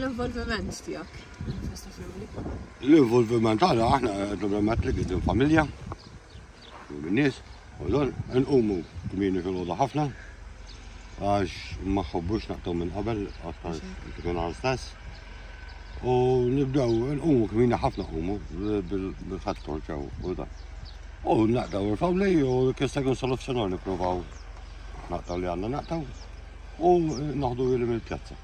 L-involviment tiegħek fil-festa family? L-involviment għana aħna naturalment li għidin familja, u minnis, u dan nqumu kmini fil-ħoda ħafna, għax ma ħobbux naqtaw minn qabel, għax tkun għal stess. U nibdew nqumu kmini ħafna qumu bil-ħadd kolċew u dan. U naqtaw il-famli u kista kun soluzzjoni provaw naqtaw li għanna naqtaw u naħdu il-pjazza.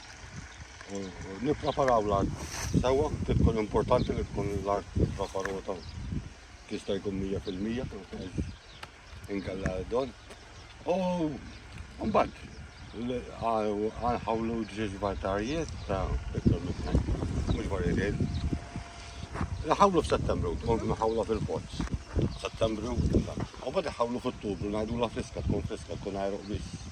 Nippreparaw l-art sewwa, kif tkun importanti li tkun l-art preparata tista' jkun 100% inkella don. U mbagħad għanħawlu ġiex vartarijiet ta' iktar minn tnejn, mhux varjetiet. Nħawlu f'Settembru, tkun nħawla fil-pozz. Settembru, u bad nħawlu f'Ottubru, ngħidu la friska, tkun friska, tkun għajruq biss.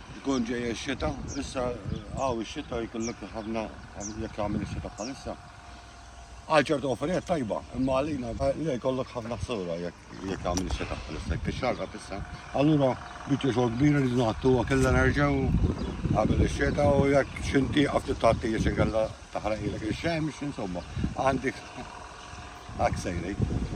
Tkun ġejja x-xita, issa għaw ix-xita jkollok ħafna jekk għamil ix-xita bħalissa. Għal ċertu offerijiet tajba, imma għalina li jkollok ħafna ħsura jekk għamil ix-xita bħalissa, jekk ix-xarqa tissa. Allura biċċa xogħol kbira li nagħtu kellha nerġgħu għamil ix-xita u jekk xinti għafti tagħti jiex inkella taħraqilek ix-xemx, insomma, għandek għaksejlejk.